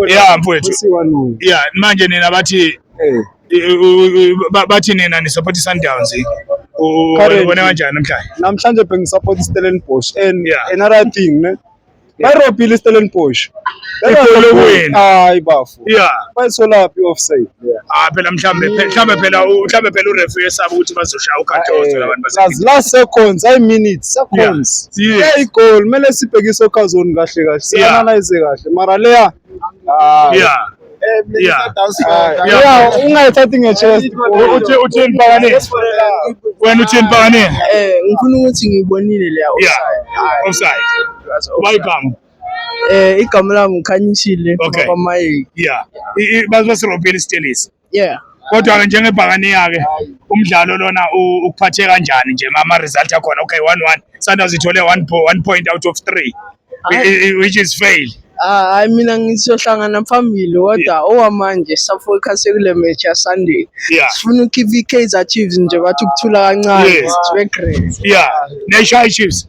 ya mfowethu ya manje nina bathi eh. bathi nina nisupport i-Sundowns ubona kanjani namhlanje namhlanje bengisupport i-Stellenbosch and another thing ne bayirobhile i-Stellenbosch hayi bafo bayisolaphi i-offside Ah phela mhlambe phe- mhlambe phela u- mhlambe phela urefu yesaba ukuthi bazoshaya ukhathozo labantu base Plus last seconds, I minutes, seconds. Yeah. Yeah, igol kumele sibhekise okhazoni kahle kahle. Sianalyze kahle. Mara leya ah yeah yeah ah, Yeah. yeah, ungayithathi ngechest. U- uthi uthini mpakane wena uthini mpakane Eh ngifuna ukuthi ngiyibonile leya yeah offside bayibhamu Eh igama lami uKhanyishile Okay. kwaMayeki. yeah I- i- baze basirobhela isitelisi Yeah. kodwa-ke njengebhakaniya ke umdlalo lona u- ukuphathe kanjani nje ma- ama-result akhona okay one one sundowns ithole one, po- one point out of three i- i- i- which is fail Ah, hayi mina ngizohlangana phambili kodwa owamanje safocus sekule match ya Sunday. yeah Sifuna ukhipha iKaizer Chiefs nje bathi ukuthula kancane Yes. sibe great. yeah neshaya ichiefs